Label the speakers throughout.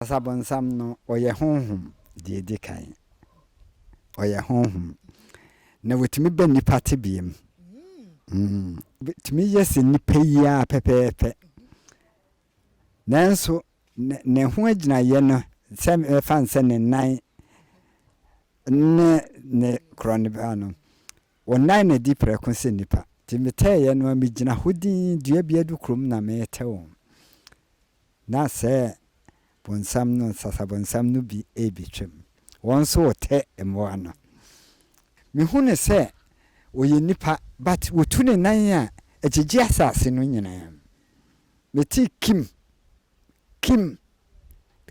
Speaker 1: Ɔbonsam no, ɔyɛ honhom, deɛ ɛdi kan. Ɔyɛ honhom. Na ɔtumi ba nnipa tebea mu. Ɔtumi yɛ sɛ nnipa yi ara pɛpɛɛpɛ. Nanso, ne ho agyinaeɛ no, sɛ mɛfa no sɛ ne nan ne ne korɔn no, Wɔnnan me adi prɛko sɛ nnipa. Nti metɛɛeɛ no ara megyina hɔ dinn dua bi adukuro mu na meretɛ wɔn. Na sɛ bonsam no, nsasabonsam no bi rebɛtwam. Wɔn nso wɔtɛ mmoa no. Mehu no sɛ ɔyɛ nnipa but wɔtu ne nan a ɛgyegye asase no nyinaa mu. Metee kim. Kim,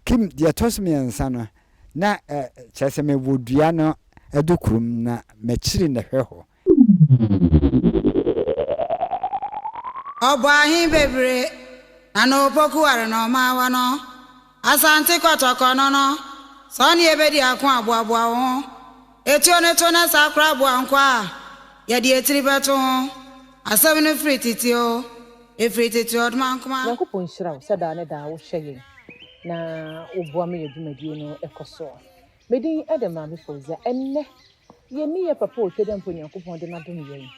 Speaker 1: Kim, deɛ ɛtɔ so mmiɛnsa no, na ɛ, kyerɛ sɛ mewɔ dua no adukuru mu na m'akyiri na ɛhwɛ hɔ.
Speaker 2: Ɔbɔ ahe bebree na na Opoku ware na ɔma awa no? Asante kɔtɔkɔ no no, sɛ ɔne yɛbɛdi ako aboaboa wo ho. Etuo no to na saa kora aboa nkwa a yɛde etiri bɛto ho asɛm no firi tete oo, efiri tete ɔdmankoma. Nyankopɔn nhyira wo sɛ daa
Speaker 3: ne daa wo hwɛ yɛn na wo boa ma yɛ dwumadie no kɔ soɔ. Me din de Maame Fauziah. Ɛnnɛ yɛ ni yɛ papa Otwedeɛmpo Nyankopɔn de no adom yɛn.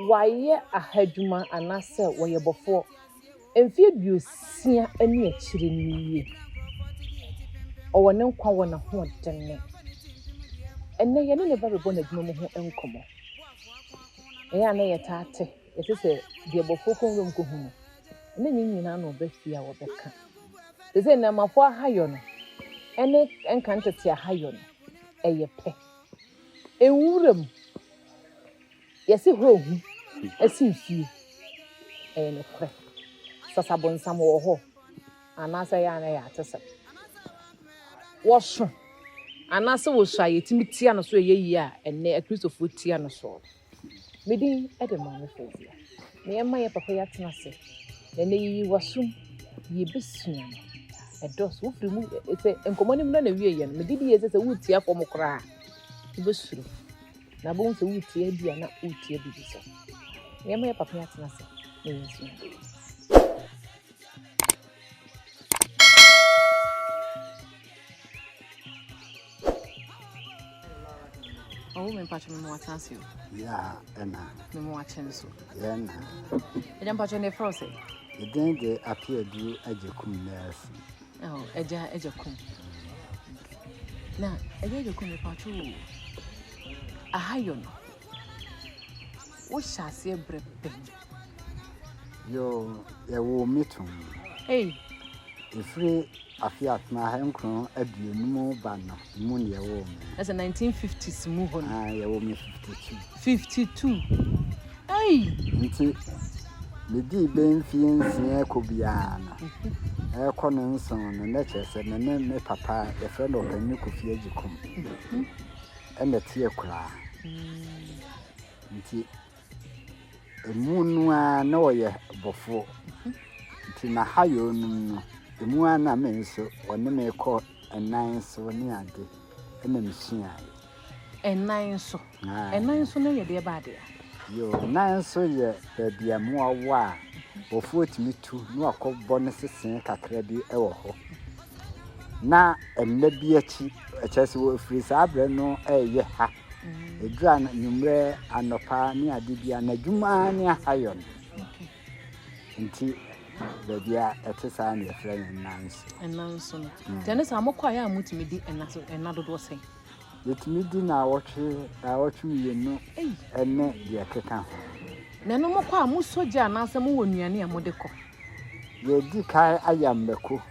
Speaker 3: Wayɛ aha adwuma anaa sɛ wɔyɛ bɔfoɔ. mfe aduosia ne akyiri no nie. Ɔwɔ ne nkwa wɔ n'ahoɔden mu. Ɛnnɛ, yɛne ne ba rebɔ n'adwuma mu ho nkɔmmɔ. Ɛyɛ a na yɛtaa te, yɛte sɛ deɛ bɔfoɔ kɔ nwuram kɔhu no. Ɛna nyɛ nyinaa na ɔba fie a wɔbɛka. Te sɛ nnɛɛmafoɔ ahayɔ no ne ɛnka ntete ahayɔ no, ɛyɛ pɛ. Nwuram Yɛse hɔ hu sen fie. Ɛyɛ nokorɛ. Sasa bonsam wɔ hɔ anaasɛ ɛyɛ a na ɛyɛ atesɛm. Wɔso anaasɛ wɔsu a yɛtumi tia no so ɛyɛ yie a ɛnnɛ akristofoɔ tia no soɔ. Me din de Maame Fozia. Na yɛma yɛ papa yi atena ase. Na ɛnɛ yiyi wasum yɛbɛsua no. Ɛdɔɔso wofiri mu sɛ nkɔmmɔ no mu na na wie yɛ no. Mede bi yɛ sɛ sɛ woretia fam koraa wobɛsuro. na bohu sɛ woretia bi a na woretia biribi so nneɛma yɛ papa yɛatena ase na yɛnsua ɔwo me mpatwo me mmoa tena se o ya
Speaker 1: ɛna me mmoa kyɛn
Speaker 3: so yɛ na
Speaker 1: ɛdɛ mpatwo
Speaker 3: ne frɛ sɛ ɛdɛn de
Speaker 1: ape aduro agye kum nɛɛse Oh, Agya
Speaker 3: Agya Kum. Na Agya Agya Kum mepatwo o. Ahayɔ no. Wohyɛ aseɛ brɛ bɛn. Yo,
Speaker 1: yɛwoo me tom. Ei.
Speaker 3: Ɛfiri
Speaker 1: afe atena ha nkron aduonum ba no. Mu na yɛwoo me. Na sɛ nineteen fifties
Speaker 3: mu hɔ no. Ah, yɛwoo me
Speaker 1: fifty
Speaker 3: two. Fifty two. Ei. Nti
Speaker 1: medii bɛn mfie nsia kɔ biara no. Ɛrekɔ no nson no na kyerɛ sɛ me ne me papa yɛfrɛ no ɔpanyin Kofi Agyekum. Ɛna tie koraa. Nti Emu no ara na ɔyɛ bɔfo. Nti na ha yɛ ɔnum no. Emu ara na me nso ɔne me kɔ ɛnan so ne ade na mesua. Ɛnan so? Ɛnan so
Speaker 3: no yɛ deɛ ba adeɛ? Yo, nan
Speaker 1: so yɛ baabi a mmoa wɔ a bɔfoɔ tumi tu na wakɔbɔ ne sesee kakra bi wɔ hɔ. Na ɛnna bi akyi, ɛkyɛ sɛ wɔfiri saa berɛ no ɛreyɛ ha. Ɛduru anwummerɛ, anɔpa ne ade bia n'adwuma ara ne ahayɔ no. Nti baabi a ɛte saa na yɛfrɛ no nnanso. Nnanso no. Mm.
Speaker 3: Nti ɛne saa mokɔ a yɛ a motumi di ɛna so ɛna dodoɔ sɛn? Yɛtumi di
Speaker 1: na awɔtwe awɔtwe mmienu ɛne deɛ ɛkeka ho. Na ɛno mokɔ
Speaker 3: a mosɔ gya anaasɛ mowɔ nnuane a mode kɔ? Yɛdi
Speaker 1: kan ayɛ mmako.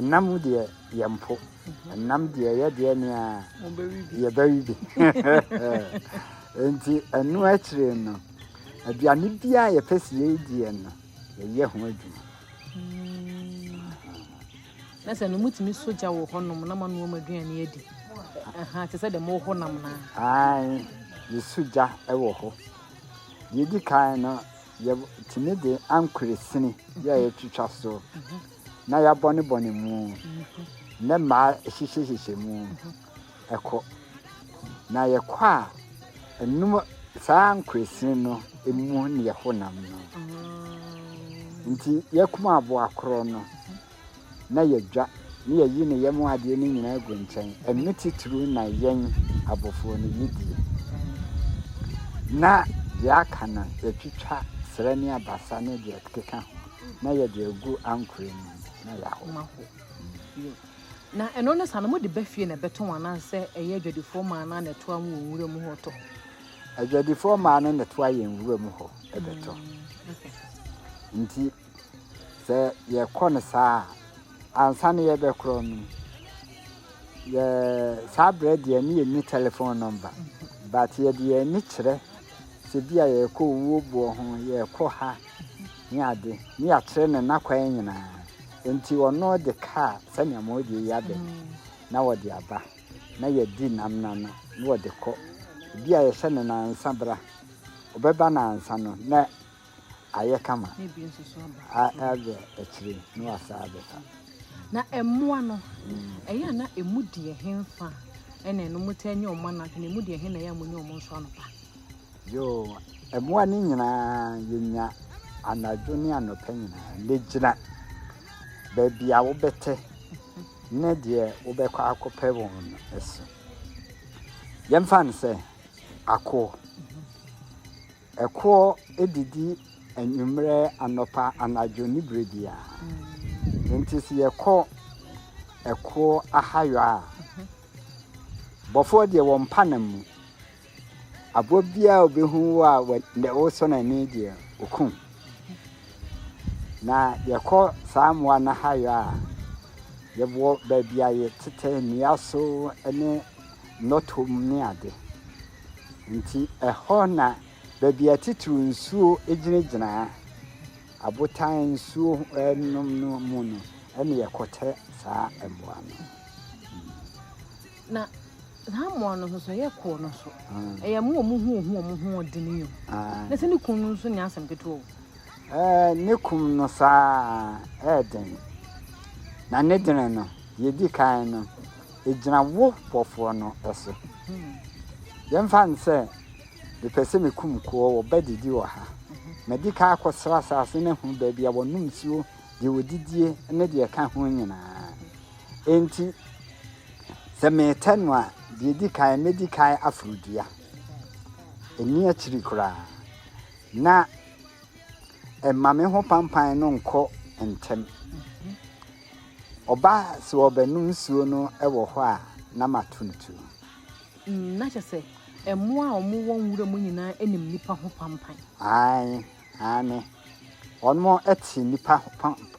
Speaker 1: Nam deɛ yɛmpo. Nam deɛ yɛ deɛ ne a yɛbɛwe bi. Nti ɛno akyire no, aduane bi a yɛpɛ sɛ yɛdiɛ no, yɛyɛ ho adwuma.
Speaker 3: Na sɛ no mutumi sogya wɔ hɔnom na manoa mu aduane adi. Te sɛ deɛ mowɔ hɔ nam no a. Ae,
Speaker 1: yɛsogya wɔ hɔ. Deɛ ɛdi kan no, yɛtumi de ankoresini yɛ a yɛtwitwa so. na yɛabɔnebɔne mu, ne mmaa hyehyɛhyehyɛ mu kɔ. Na yɛkɔ a, ɛnum saa nkoesin no mu ne yɛ honam no. Nti yɛkum aboa korɔ no na yɛdwa ne yɛyi ne yam adeɛ no nyinaa gu nkyɛn. Ɛno titiriw na yɛn abɔfoɔ no yɛdie. Na deɛ aka no yɛtwitwa serɛ ne abasa ne deɛ ɛkeka ho. Na yɛde agu ankorɛ mu na yɛahoma hɔ
Speaker 3: bio. Na ɛno ne sa no, mode ba fie na ɛbɛtɔn anaasɛ ɛyɛ adwadifoɔ maa no a na ɛtoa mo wɔ nwura mu hɔ tɔ? Adwadifoɔ
Speaker 1: maa no na ɛtoa yɛn nwura mu hɔ ɛbɛtɔ. Mm, Nti sɛ yɛkɔ no saa a, ansa no yɛbɛkorɔ no, yɛ saa berɛ deɛ ne yɛnni telephone number. Mm-hmm. But yɛde yɛn ani kyerɛ sɛ bi a yɛkɔ owuo boɔ ho, yɛkɔ ha, ne ade, ne yɛakyerɛ no n'akwan nyinaa, enti ɔno de kaa sɛnea moyɛ yi aba bi, na ɔde aba, na yɛadi nam no ano, na ɔde kɔ. Ebi a yɛhyɛ no nnansa bra, ɔbɛba nnansa no na ayɛ kama,
Speaker 3: a ɛbɛ akyire
Speaker 1: na wasan abɛfa. Na
Speaker 3: mmoa no, ɛyɛ a na emu deɛ henfa na ɛno motaa nya wɔn anadwo, na emu deɛ he na ɛyɛ a monya wɔn nso anɔpa? Yoo,
Speaker 1: mmoa no nyinaa yɛnya anadwo ne anɔpa nyinaa. Ne gyina baabi a wobɛte ne deɛ wobɛkɔ akɔpɛ wɔn no so. Yɛmfa no sɛ akoɔ. Ɛkoɔ didi anwummerɛ, anɔpa, anadwo ne berɛ biara. Nti sɛ yɛkɔ ɛkoɔ ahayɔ a, bɔfoɔ deɛ wɔmpa nam mu. Abowa biara a obehu wo a wosɔ no ani deɛ, okum. Na yɛkɔ saa mmoa no ahayɔ a, yɛwɔ baabi a yɛtetɛ nnua so ne nnɔtɔ mu ne ade. Nti ɛhɔ na baabi a titiriw nsuo gyinagyina abotan nsuo nom no mu no, ɛne yɛkɔtɛ saa mmoa no. Na
Speaker 3: saa mmoa no nso sɛ ɛyɛ kɔɔ no so ɛyɛ mo wɔn ho ohu wɔn ho ɔdini yɛ na sɛ ne kun no nso nyɛ asɛm ketewa o. Ɛɛ ne
Speaker 1: kum no saa ɛɛden na ne dene no yɛdi kan no ɛgyina wo bɔfoɔ no so hmm. yɛmfa no sɛ mepɛ sɛ mekum koɔ wɔba didi wɔ ha mhm. madi ka akɔsra asase no ahu baabi a wɔnom nsuo deɛ wɔdidie ne deɛ ɛka ho nyinaa Enti, sɛ meretɛ no a, deɛ ɛdi kan, mɛdi kan aforo dua. Ɛnni akyiri koraa. Na ɛma me ho pampan no nkɔ ntɛm. Ɔba sɛ ɔbɛnom nsuo no wɔ hɔ a, na mato no tuo. Mm,
Speaker 3: na kyɛ sɛ mmoa a wɔwɔ nwura mu nyinaa nim nipa ho pampan. Ae.
Speaker 1: Aane, wɔnom te nnipa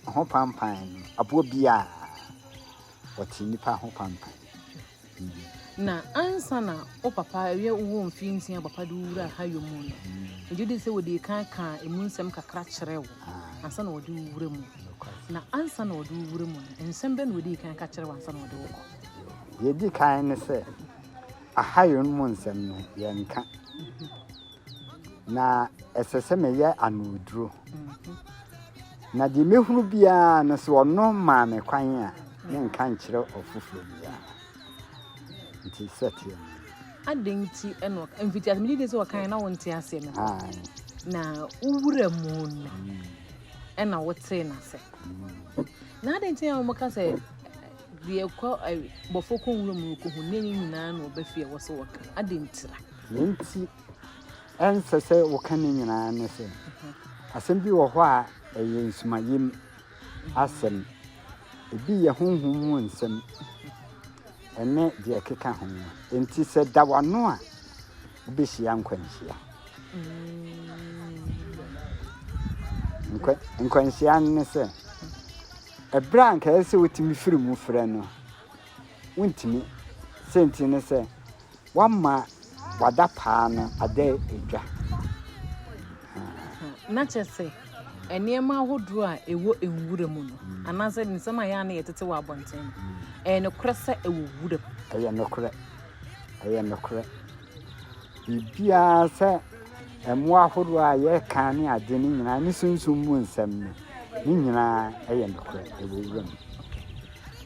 Speaker 1: ho pampan, aboɔ biara, wɔte nnipa ho pampan.
Speaker 3: Na ansa na wo papa ɛyɛ wowɔ mfie nsia papa de wura ha yɔ mu no, megye di sɛ wɔde kan kaa emu nsɛm kakra kyerɛ wo ansa na wɔde wura mu. Na ansa na wɔde wura mu no, nsɛm bɛ na wɔde kan ka kyerɛ wo ansa na wɔde wokɔ? Yɛdi
Speaker 1: kan ne sɛ, aha yɔ no mu nsɛm no, yɛnka. na ɛsɛ sɛ meyɛ anoduro. Na deɛ mɛhunu biara no sɛ ɔno maa me kwan a ne nka nkyerɛ ɔfoforɔ biara. Nti sɛ teɛ no. Adɛn nti
Speaker 3: ɛna ɔka mfiti ase megye di sɛ ɔkan na wonte aseɛ no. Na wowura mu no ɛna wotee no ase. Na adɛn nti a wɔka sɛ deɛ kɔ bɔfo kɔ nwura mu rekɔhu ne nyinaa na ɔbɛfie wɔ so wɔka adɛn ntira. Nea enti
Speaker 1: ɛnsɛ sɛ woka ne nyinaa ne sɛ, asɛm bi wɔ hɔ a ɛyɛ nsumayam asɛm. Ebi yɛ honhom mu nsɛm ne deɛ ɛkeka ho. Enti sɛ da w'ano a, wobɛhyia nkwanhyia. Nkwanhyia no ne sɛ, ɛberɛ a anka ɛsɛ sɛ wotumi firi mu frɛ no, wontumi. Sɛnti ne sɛ, wama wada paa no ada edwa.
Speaker 3: Na kyerɛ sɛ nneɛma ahodoɔ a ɛwɔ nwura mu no anaasɛ nsɛm a yɛ a na yɛtete wɔ
Speaker 1: abɔnten
Speaker 3: no ɛyɛ
Speaker 1: nokorɛ
Speaker 3: sɛ ɛwɔ wura mu. Ɛyɛ nokorɛ.
Speaker 1: Ɛyɛ nokorɛ. Biribiara sɛ mmoa ahodoɔ a yɛka ne ade no nyinaa ne sunsum mu nsɛm no ne nyinaa ɛyɛ nokorɛ ɛwɔ wura mu.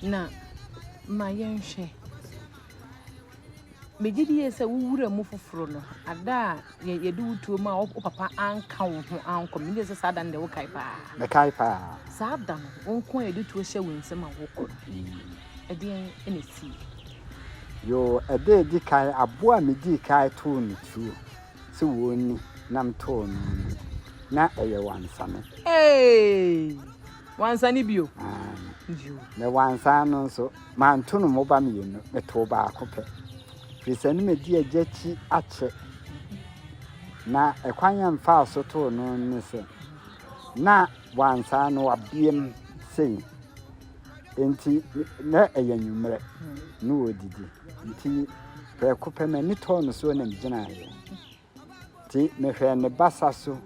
Speaker 3: Na ma yɛnhwɛ Megye di yie sɛ wo wura mu foforo no, ada a yɛde wo tuo mu a wo papa anka wo ho ankɔ. Megye di sɛ saa da no deɛ wokae paa. Mekae paa.
Speaker 1: Saa da no, wo
Speaker 3: nko a yɛde tuo hyɛ wo nsam a wokɔ no, mm. ɛdeɛn na ɛsii? Yoo,
Speaker 1: ɛda a ɛdi kan, aboa a medii kan too no tuo sɛ wɔnni nam too no no, na ɛyɛ wansane. Hey!
Speaker 3: Wansane bio? Ah. Bio.
Speaker 1: Na wansane no nso, Manto no mmoba mmienu, metoo baako pɛ. Firi sɛ ne madi agya akyi akyɛ. Na ɛkwan a mfaa so too no ne sɛ, na wansa no wabeam sei. Enti na ɛyɛ anwummerɛ na ɔredidi. Nti prɛko pɛ m'ani tɔɔ no so na megyinaeɛ. Nti mehwɛɛ ne basa so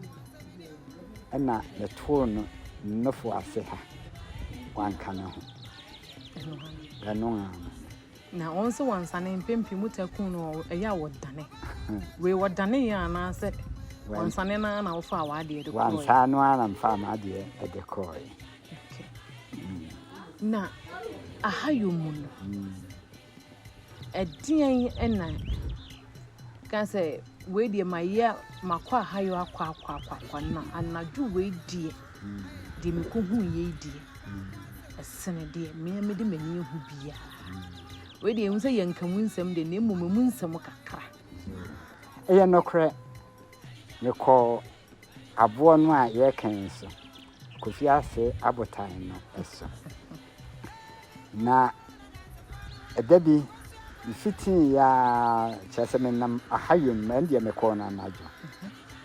Speaker 1: na metoo no nnofo ase ha. Wanka ne ho. Ɛno ara no.
Speaker 3: Na wɔn nso wɔnsane mpem pii mu ta kun no ɛyɛ a wɔdane. Wei wɔdane yɛ anaasɛ wɔnsane no ara na wofaa w'adeɛ de kɔɔɛ? Wansaa no ara na mfaa
Speaker 1: m'adeɛ de kɔɔɛ.
Speaker 3: Na aha yɔ mu no. Ɛdeɛn na ka sɛ wei deɛ mayɛ makɔ ahayɔ akɔ akɔ akɔ akɔ na anadwo wei deɛ deɛ mekɔhu yei deɛ ɛsene deɛ mmea mede m'ani ahu biara wei deɛ ɛhu sɛ yɛnka mu nsɛm deɛ na mmom ɛmu nsɛm kakra
Speaker 1: ɛyɛ nokorɛ mekɔɔ aboɔ no a yɛreka yi so, Kofi Ase abotan no so. Na ɛda bi, mfitii ya kyerɛ sɛ menam ahayom ma ɛndeɛ mekɔɔ no anadwo.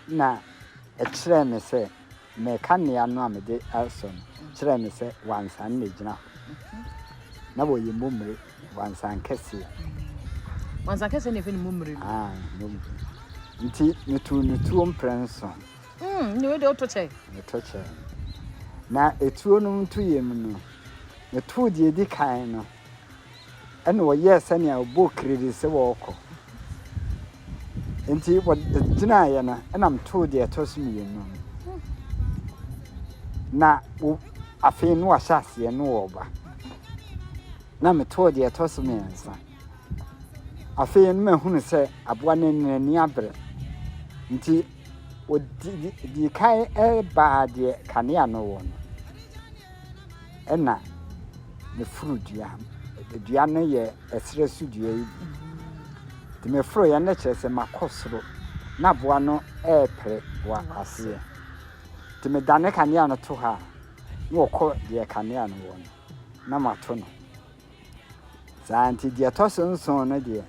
Speaker 1: Na ɛkyerɛɛ me sɛ meka nnea no a mede asɔ no kyerɛɛ me sɛ wansan na ɛgyina hɔ. Na wɔyɛ mu mmere Wansankɛseɛ.
Speaker 3: Wansankɛseɛ na ɛfɛ ne mummerɛ no. Ah, mummerɛ.
Speaker 1: Nti metu ne tuo mprɛ nso. Mm, ne wode
Speaker 3: woto kyɛ. Meto kyɛ.
Speaker 1: Na etuo no nto yɛ mu no, metu deɛ edi kan no. Ɛna ɔyɛɛ sɛnea ɔbɔ kiriri sɛ wɔrekɔ. Enti wɔgyinaeɛ no, ɛna metoo deɛ ɛtɔ so mmienu no. Na afei no wahyɛ aseɛ no wɔreba. Na metoo deɛ ɛtɔ so mmiɛnsa. Afei no mahunu sɛ aboa no n'ani abere. Nti wɔdi kan baa deɛ kanea no wɔ no. ɛna me foro dua dua no yɛ ɛserɛ so dua yi bi nti me foro yɛ no kyerɛ sɛ makɔ soro na aboa no ɛrepere wɔ aseɛ nti me da ne kanea no to ha na wɔkɔ deɛ kanea no wɔ no na mato no saa nti deɛ ɛtɔ so nson no deɛ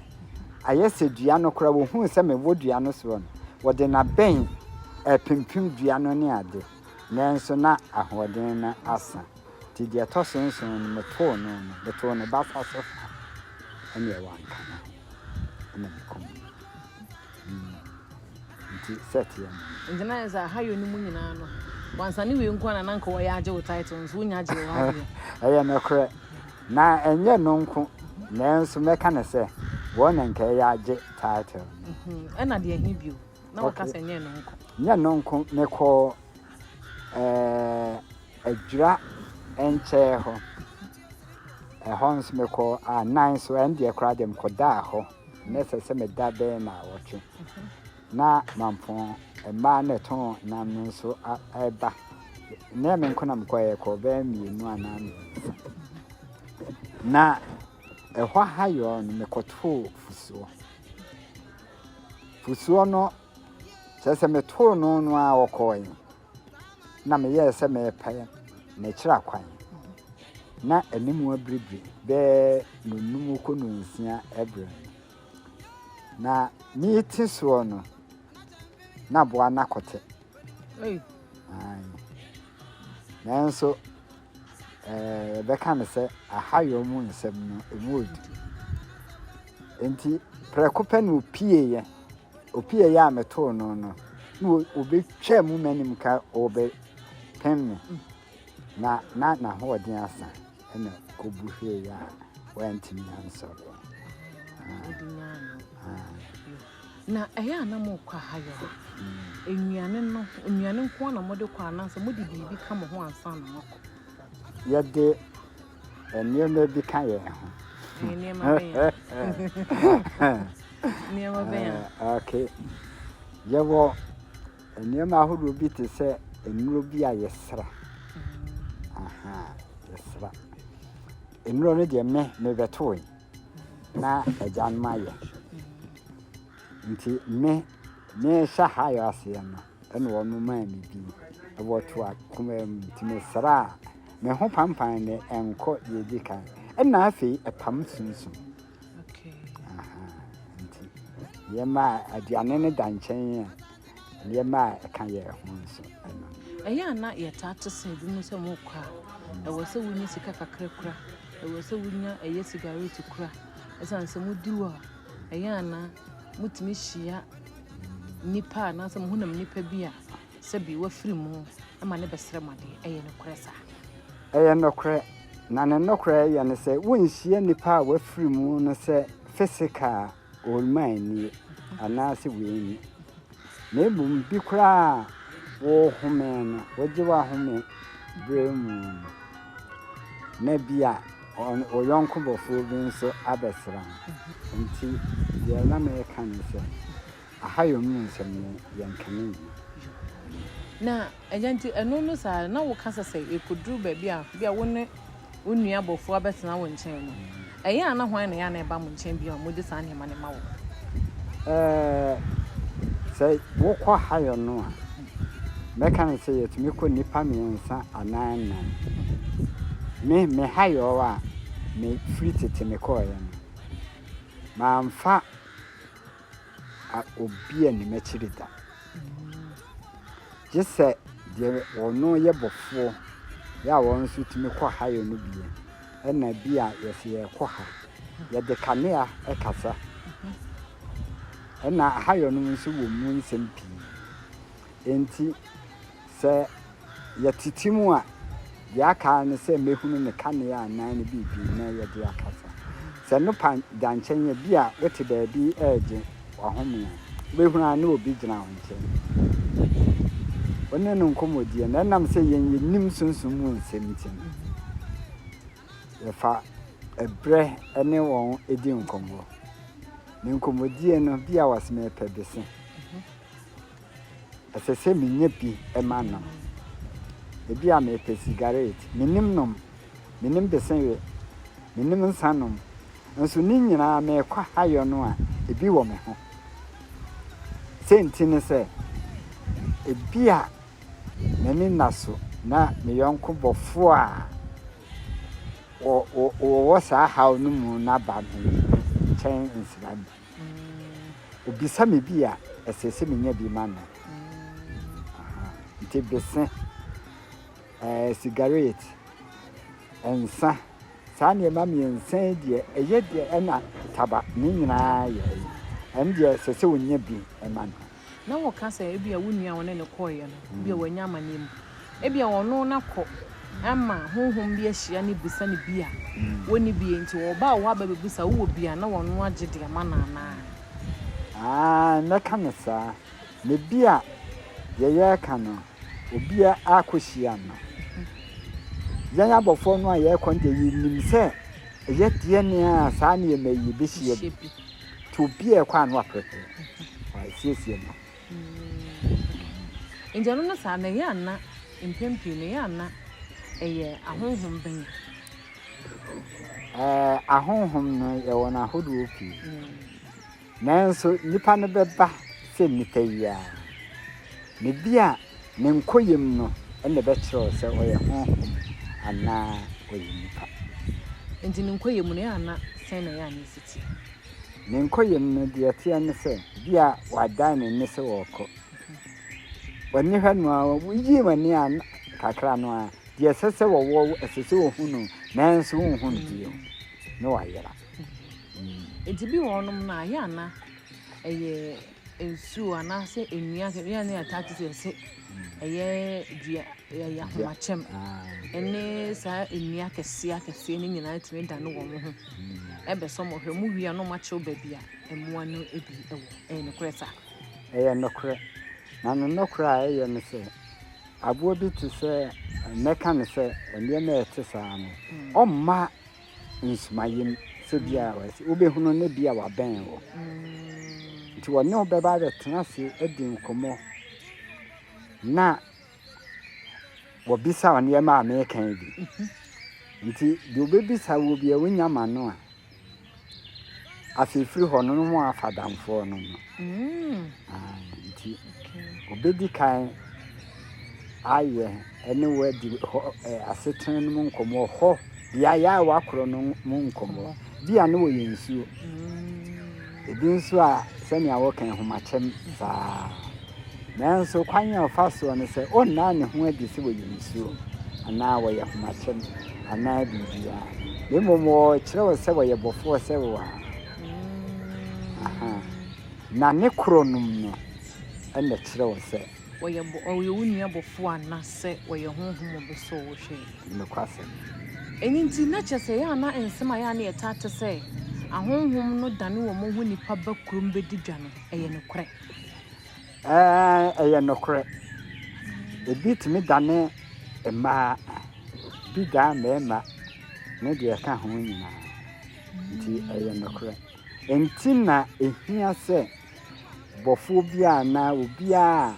Speaker 1: ayɛ sɛ dua no koraa wɔhuu sɛ mewɔ dua no soɔ no wɔde nabɛn ɛpempem dua no ne ade Nanso na ahoɔden no asa, nti deɛ ɛtɔ so nson no, metoo no no, metoo ne basa so ha, ɛnneɛ wanka ne ho, ɛnna mekum no. Mm. Nti sɛ teɛ no. Nti na yɛ sɛ ahayɔ
Speaker 3: no mu nyinaa no, wansa ne wei nko ara na na nka wɔyɛ agye wo title nso wonya gyee wo adeɛ. Ɛyɛ nokorɛ.
Speaker 1: Na ɛnyɛ no nko, nanso mɛka no sɛ wɔn na nka ɛyɛ agye title no. Mhm. Ɛna deɛ
Speaker 3: ɛhe bio? na wɔka sɛ nyɛ no nko. Nyɛ no nko
Speaker 1: mekɔ ɛɛ adwira nkyɛɛ hɔ ɛhɔ nso mekɔ anan so ɛn deɛ koraa deɛ mekɔdaa hɔ na ɛsɛ sɛ meda bɛyɛ na awɔtwe na mampɔn mmaa na ɛtɔn nam no nso ɛba na me nko na mekɔ ɛyɛ kɔ bɛyɛ mmienu anaa mmiɛnsa na ɛhɔ ha yɔɔ no mekɔtoo fusuo Fusuo no, kyerɛ sɛ metoo no no ara ɔkɔɔe, na meyɛɛ sɛ merepɛ no akyira kwan. Ná anim abiribiri bɛyɛ nnɔnnum kɔ nnɔnsia berɛ. Na merete soɔ no, na aboa no akɔte. Nanso yɛbɛka no sɛ ahayɔ mu nsɛm no, ɛmu yɛ duru. Enti prɛko pɛ na ɔpieeɛ. Ɔpieeɛ a metoo no no, na ɔbɛtwaa mu m'anim ka ɔbɛpem me. Na na n'ahoɔden asa na ɔbu hweeɛ a wantumi ansɔre. Ah. Ah.
Speaker 3: Na ɛyɛ a na morekɔ ahayɔ a, nnuane no, nnuane nko ara na mode kɔ anaasɛ mode biribi ka mo ho ansa na moakɔ? Yɛde
Speaker 1: nneɛma bi ka yɛn ho.
Speaker 3: Nneɛma bɛn a? Nneɛma bɛn a? Okay.
Speaker 1: Yɛwɔ nneɛma ahodoɔ bi te sɛ nnuro bi a yɛsra. Mm. Aha, yɛsra. Nnuro no deɛ me mebɛtoe. na agyanom ayɛ. Nti me me hyɛ high aseɛ no ɛna ɔno maa me din ɛwɔ to akoma mu nti me sraa me ho pampan ne ɛnkɔ deɛ ɛdi kan ɛna afei ɛpam sunsun nti yɛ maa aduane no da nkyɛn a. nneɛma a ɛka yɛn ho nso no. Ɛyɛ a na
Speaker 3: yɛtaa te sɛ ebinom sɛ wɔkɔ a, ɛwɔ sɛ wonya sika kakra kura, ɛwɔ sɛ wonya ɛyɛ sigaret kura. Esiane sɛ mudi hɔ a, ɛyɛ a na mutumi hyia nnipa anaasɛ muhunam nnipa bi a sɛbi wafiri mu ma no bɛsrɛ mo ade. Ɛyɛ nokorɛ saa? Ɛyɛ nokorɛ,
Speaker 1: na ne nokorɛ yɛ ne sɛ wonhyia nnipa a wafiri mu no sɛ physical Ɔremmae nie, anaasɛ wanni, na mmom bi koraa a worehome no, wogye w'ahome berɛ mu no, na bi a wo yɔnko bɔfoɔ bi nso abɛsra wo. Enti deɛ na mereka ne sɛ, Ahayɔ mu nsɛm no, yɛnka ne nyina.
Speaker 3: Na Agya, nti ɛno no saa no, na woka sɛ sɛ yɛkɔduru baabi a bi a wo ne wo nua bɔfoɔ abɛtena wo nkyɛn no, ɛyɛ a na hwan na ɛyɛ a na ɛba mo nkyɛn bio a mode saa nneɛma no ma wɔn? Ɛɛ,
Speaker 1: sɛ wokɔ hayɔ no a, mɛka no sɛ yɛtumi kɔ nnipa mmiɛnsa anaa nnan. Me, me hayɔ a mefiri tete mekɔeɛ no, mamfa a obi nni m'akyiri da, gye sɛ deɛ ɔno yɛ bɔfoɔ yɛ a wɔn nso tumi kɔ hayo no bie ɛna bi a yɛsɛ yɛkɔ ha yɛde kanea ɛkasa ɛna hayo no nso wɔ mu nsɛm pii nti Sɛ yɛtete mu a, deɛ aka ara ne sɛ mɛhunu ne kanea anaa ne biribi na yɛde akasa. Sɛ nopa da nkyɛn a, ebia wote baabi regye w'ahome a, wobɛhunu ara na obi gyina wo nkyɛn. Wo ne no nkɔmmɔdie no, ɛnam sɛ yɛn yɛnim sunsum mu nsɛm nti no, yɛfa ɛberɛ ne wɔn di nkɔmmɔ. Ne nkɔmmɔdie no, bi a wɔseme pɛ bese. Ɛsɛ sɛ minya bi ma nom. Ebia mepɛ sigaret. Minnim nom. Minnim besewe. Minnim nsa nom. Nso ne nyinaa mekɔ hayɔ no a, ebi wɔ me ho. Sɛ nti ne sɛ, ebia m'ani nna so na me yɔnko bɔfo a wɔwɔ saa haw no mu no aba me nkyɛn nsra bi. Obisa me bi a, ɛsɛ sɛ menya bi ma no. Nti bese, ɛɛ, sigaret, nsa, saa nneɛma mmiɛnsa yi deɛ, ɛyɛ deɛ ɛna taba, ne nyinaa yɛ ɛyi. Ɛno deɛ, ɛsɛ sɛ ɔnya bi ma no. na wɔka sɛ
Speaker 3: ebia wo nua a wɔne no kɔeɛ no, ebia wanya amanneɛ mu. Ebia ɔno no akɔ ama honhom bi ahyia no bisa no bi a wɔnni bi enti ɔba wo hɔ aba bɛbisa wowɔ bi a na ɔno agye de ama no anaa? Aane, mɛka no
Speaker 1: saa. Na bi a deɛ yɛreka no, obi a akɔhyia no. Yɛn abɔfoɔ no a yɛrekɔ no deɛ yɛnim sɛ ɛyɛ deɛn a saa nneɛma yi bɛhyia bi. Nti obiara ɛkɔ ano aprɛprɛ ɛsiesie no. Mm.
Speaker 3: Nti ɛno no saa na ɛyɛ ana mpɛn pii na ɛyɛ ana ɛyɛ ahonhom bɛn? Ɛɛ
Speaker 1: ahonhom no yɛwɔ no ahodoɔ pii. Mm. Nanso nipa no bɛba sɛ nipa yi a na bi a Ne nkoyam no na ɛbɛkyerɛw sɛ ɔyɛ honhom anaa ɔyɛ nnipa. Enti ne
Speaker 3: nkoyam no, ɛyɛ a na sɛn na ɛyɛ a na esi teɛ? Ne
Speaker 1: nkoyam no, deɛ ɛteɛ ne sɛ, ebia wadan ne nne sɛ ɔrekɔ. W'ani hwɛ no ara, woyii w'ani a kakra no ara, deɛ ɛsɛ sɛ wɔwɔ, ɛsɛ sɛ wohu no, nanso wonhu no bio. Na wayera.
Speaker 3: Enti bi wɔ hɔnom no a, ɛyɛ a na ɛyɛ nsuo anaasɛ nnua kɛkɛ nnua no yɛ ataakyɛ sɛ ɛsɛ ɛyɛ dua ɛyɛ ahomakyɛm ɛne saa nnua kɛseɛ akɛseɛ no nyinaa tumi da no wɔn ho ɛbɛsɔ mo hwɛ mo wia no mo akyerɛw baabi a mmoa no ebi ɛwɔ ɛyɛ nokorɛ saa. ɛyɛ nokorɛ
Speaker 1: na no nokorɛ a ɛyɛ no sɛ aboɔ bi te sɛ mɛka no sɛ nneɛma a ɛte saa no ɔmma. nsumaeɛ mu sɛ bia wɔasi wobɛhunu no bia wabɛn wo nti wɔne wo bɛba abɛtena ase adi nkɔmmɔ na wɔbisa wo nneɛma a mekan bi nti deɛ wobɛbisa wo bia wonya ma no a afei firi hɔ no no ho afa damfoɔ no no nti ɔbɛdi kan ayɛ ɛne wadi hɔ asetena no mu nkɔmmɔ hɔ beaeɛ a wakorɔ no mu nkɔmmɔ bi a ne wɔyɛ nsuo ebi nso a sɛnea wɔka ahomakyɛm saa nanso kwan a ɔfa soɔ no sɛ ɔnnaa ne ho adi sɛ wɔyɛ nsuo anaa wɔyɛ ahomakyɛm anaa biribiara na mmom wɔkyerɛ wɔ sɛ wɔyɛ bɔfoɔ sɛ wo a Na ne korɔnom no na ɛkyerɛw sɛ. Ɔyɛ bɔ, ɔyɛ
Speaker 3: wo nua bɔfoɔ ana sɛ ɔyɛ honhom ɔbɛsɔ wo hwɛ? Nokwasɛm.
Speaker 1: Ɛno nti,
Speaker 3: na kyerɛ sɛ ɛyɛ a na nsɛm a ɛyɛ a na yɛtaa te sɛ ahonhom no dane wɔn ho nnipa ba kurom bɛdi dwa no, ɛyɛ nokorɛ. Ɛɛ, ɛyɛ
Speaker 1: nokorɛ. Ebi tumi dane mmaa, bi dan mmarima, ne deɛ ɛka ho nyinaa. Enti ɛyɛ nokorɛ. Enti na ɛhia sɛ bɔfoɔ bi a anaa obiara a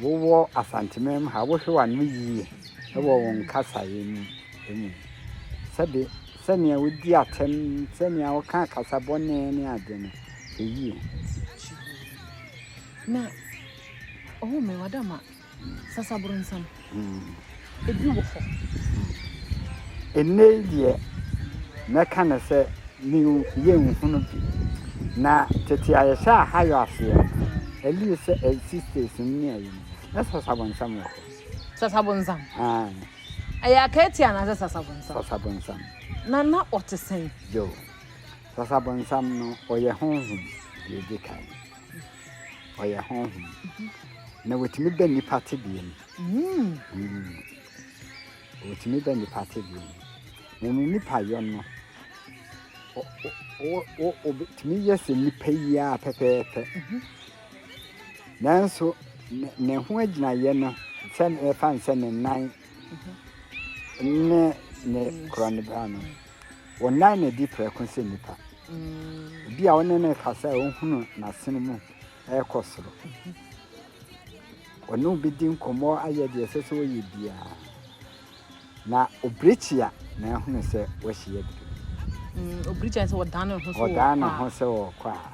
Speaker 1: wowɔ Asanteman mu ha, wohwɛ w'ano yie wɔ wo nkasaeɛ no mu. Sɛbe, sɛdeɛ wodi atɛm, sɛdeɛ woka akasa bɔne ne adeɛ no, hwɛ yie. Kyihoo.
Speaker 3: Na, oh me, wada ma. Sasabronsam. Ebi wɔ hɔ. Nnɛyi
Speaker 1: deɛ, mɛka no sɛ new yɛnhunu bi. Na tete a yɛhyɛ Ahayɔ aseɛ no, at least sɛ sixties no ne ayi no, na Sasabronsam wɔ hɔ. Sasabronsam?
Speaker 3: Aye. Ɛyɛ Akaati anaasɛ Sasabronsam? Sasabronsam.
Speaker 1: Na na
Speaker 3: ɔte sɛn? Joe,
Speaker 1: Sasabronsam no, ɔyɛ honhom, deɛ ɛdi kan. Ɔyɛ honhom. Na wɔtumi bɛ nnipa tebea mu. Wɔtumi bɛ nnipa tebea mu. Na ne nnipa yɔ no, wɔtumi yɛ sɛ nnipa yi ara pɛpɛɛpɛ. Nanso ne ho agyinaeɛ no, sɛ ɛfa ne sɛ ne nan ne ne korɔnbea no. Wɔnnan no adi prɛko sɛ nnipa. Obi a wo ne no rekasa a ohunu n'asene mu rekɔ soro. Ɔne obi di nkɔmmɔ ayɛ deɛ ɛsɛ sɛ ɔyɛ biara. Na obirikyi a na ahunu sɛ wɔahyia aduru. Mm, obirikyi
Speaker 3: a sɛ ɔdan ne ho sɛ ɔdan ne ho sɛ ɔkɔ a,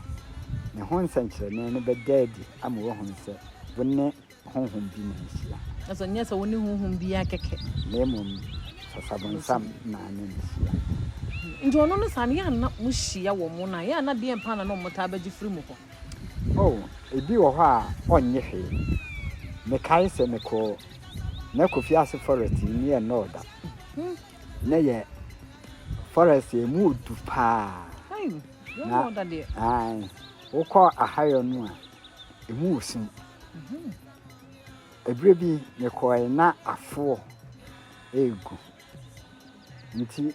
Speaker 1: ne ho nsɛnkyerɛnne no bɛda adi ama wɔahunu sɛ wo ne honhom bi na ehyia. Na so ɛnyɛ sɛ wo ne
Speaker 3: honhom bi yɛ kɛkɛ. Na mmom
Speaker 1: sɛ sabonsam na ne no hyia. Nti
Speaker 3: ɔno no saa no, yɛ a na mo hyia wɔ mo no a, yɛ a na deɛn paa na na ɔmo taa bɛgye firi mo hɔ? Oh, ebi wɔ hɔ
Speaker 1: a ɔnnye hwee. Mekae sɛ mekɔɔ na Kofi Ase Forest yi ne yɛ nnɔɔ da. Na ɛyɛ forest a emu odu paa. Ai, yɛ Na,
Speaker 3: ɔda deɛ. ae, wokɔ
Speaker 1: Ahayɔ no a, emu wɔ sum. Ɛberɛ bi mekɔeɛ na afoɔ regu. Nti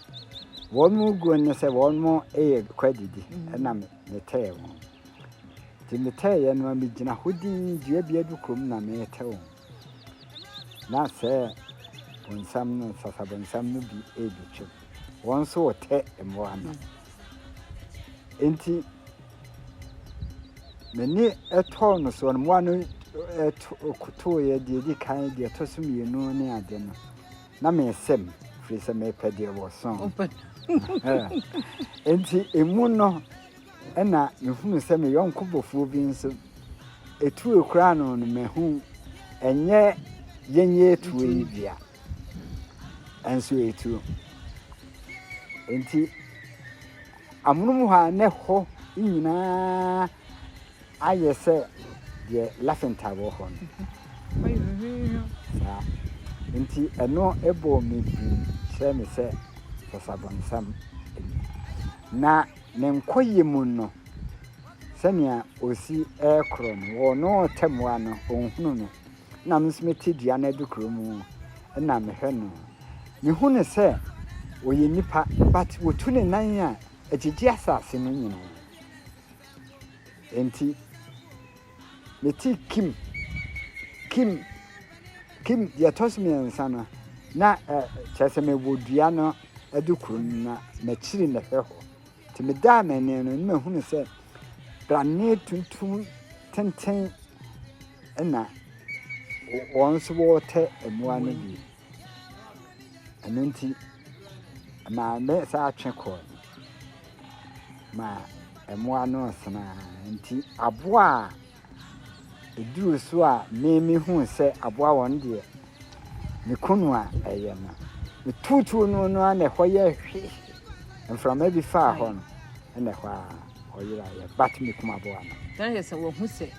Speaker 1: wɔn reguo no sɛ wɔn rekɔ adidi ɛna metɛɛ wɔn. Nti metɛeɛ no megyina hɔ dinn dua bi adukuro mu na metɛ wɔn. Na sɛ bonsam no nsasa bonsam no bi rebɛtwam. Wɔn nso retɛ mmoa no. Nti M'ani tɔɔ no so, mmoa no kotoeɛ, deɛ ɛdi kan, deɛ ɛtɔ so mmienu ne ade no, na mesɛ mu, firi sɛ mepɛ deɛ wɔsɔn. Nti emu no, ɛna mehunu sɛ me yɔnko bɔfoɔ bi nso, ɛtuo koraa no no mahu, ɛnyɛ yɛnyɛ ɛtuo yi bia, ɛnso ɛtuo. Nti Amonom hɔ a na ɛhɔ nyinaa ayɛ sɛ deɛ Lafenthal wɔ hɔ no. Saa. Nti ɛno bɔɔ me din kyerɛɛ me sɛ Sasabonsam anya. Na ne nkɔyɛ mu no, sɛnea ɔsi rekorɔ no, wɔn ɔtɛmmoa no, ɔnhunu no. na me nso mete dua no adukuro mu na mehwɛ no. Mehu no sɛ ɔyɛ nipa but ɔtu ne nan a ɛgyegye asase no nyinaa. Enti mete kim kim kim deɛ ɛtɔ so mmiɛnsa no na kyerɛ sɛ mewɔ dua no adukuro no na makyiri na hwɛ hɔ. Nti medaa m'ani no na mehu no sɛ dadeɛ tuntum tenten na wɔn nso wɔretɛ mmoa no bi. Ɛno nti, maame san twe kɔɔ no ma mmoa no resene ara nti aboa a Ɛduruu so a me mehuu sɛ aboa wɔn deɛ, me kunu a ɛyɛ no, metuutuu no no ara na ɛhɔ yɛɛ hwe. Mframa bi faa hɔ no, ɛna ɛhɔ a ɔyeraeɛ. But mekum aboa no. Can I hear sɛ wɔahu sɛ.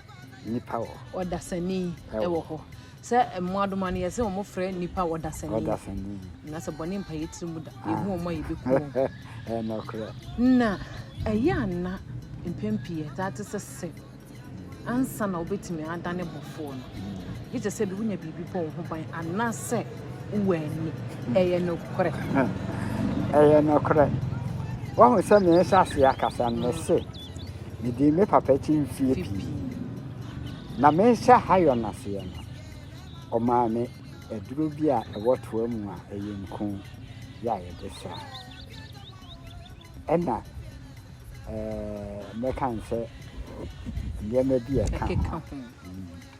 Speaker 3: Nnipa wɔ hɔ.
Speaker 1: Ɔdasani
Speaker 3: wɔ hɔ. Sɛ mmoadoma no, yɛse wɔn frɛ nnipa ɔdasani. Ɔdasani. Na sɛ bɔne mpa yɛ tiri mu da. Ah. Yɛhu wɔn a yɛbɛku wɔn. Ɛnokorɛ.
Speaker 1: Na
Speaker 3: ɛyɛ a na mpɛn pii ɛtaa te sɛ sɛ ansa na wobɛtumi adane bɔfoɔ no, gye kyɛ sɛ bi wonya biribi bɔ wo ho ban anaasɛ wowɔ ani. Ɛyɛ nokorɛ. Ɛyɛ nokorɛ.
Speaker 1: Wahu sɛ mehyɛ aseɛ akasa no, mese Medii me papa akyi mfeɛ pii. Na mehyɛ Hayon aseɛ no, ɔmaa me aduro bi a ɛwɔ toa mu a ɛyɛ nku yɛ a yɛde sra. Ɛna mɛka n sɛ nneɛma bi a ɛka ho.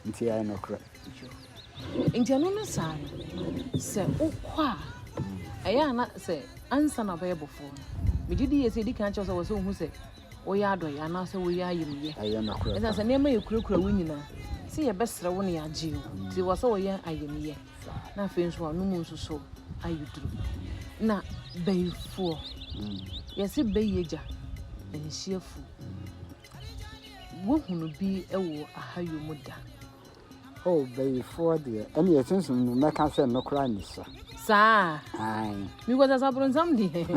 Speaker 1: Nti ɛyɛ nokorɛ.
Speaker 3: Nti ɛno no saa no sɛ wokɔ a ɛyɛ a na sɛ ansa na wobɛyɛ bɔfoɔ no megye di yɛ sɛ ɛdi kan kyɛw sɛ wɔ sɛ wohu sɛ woyɛ adɔyɛ anaasɛ woyɛ ayamyɛ ɛsiane sɛ
Speaker 1: nneɛma yɛkurakura wo
Speaker 3: nyinaa sɛ yɛbɛsrɛ wo ne yɛagye wo nti wɔ sɛ wɔyɛ ayamyɛ na afei nso ano mu nso so ayɛ duru na bayifoɔ yɛse bayi agya ɛnhyiafu wohunu bi wɔ ahayɔ mu da Oh,
Speaker 1: bayifoɔ deɛ, ɛne yɛ sunsum no mɛka sɛ no koraa ne sa. Saa?
Speaker 3: Ae. Mekɔ
Speaker 1: sɛ saboronsam
Speaker 3: deɛ.